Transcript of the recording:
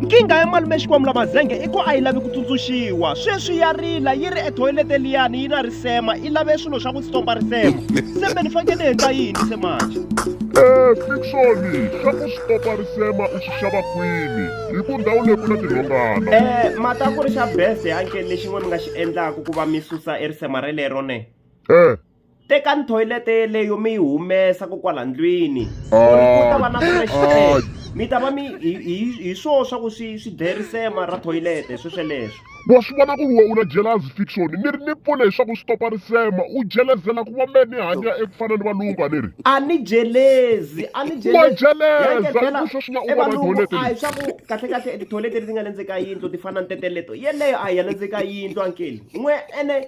Nkingha ya malume Xikwambu la Mazenge i ku a yi lavi ku tsundzuxiwa. Sweswi ya rila yi ri ethoyilete liyani yi na risema i lave swilo swa ku stompa risema. Sembe ni faneke ni endla yini se manje? Eh, Fiction, swa ku stompa risema u swi xava kwini? Hi ku ndhawu leyi ku na tinhongana. Eh, mata ku ri xa bese anke lexin'we mi nga xi endlaku ku va mi susa e risema relero ne? Eh, tekani thoyilete yeleyo mi yi humesa ko kwala ndlwini ku ta va na fresh air mi ta va mi hi- hi hi swoo swa ku swi swi dlerisema ra thoyilete swesweleswo wa swi vona ku ri wena u na jealousy fiction ni ri ni pfune hi swa ku swi topa risema u jelezela ku va me ni hanya eku fana ni valungu a ni ri a ni jelezi a ni Wa jeleza, Yanke ku sweswi na u vona toilet a hi leyi. swa ku kahlekahle tithoyilete leti nga le ndzeni ka yindlu ti fana ni teteleto yeleyo a hi ya le ndzeni ka yindlu ankeli n'we ene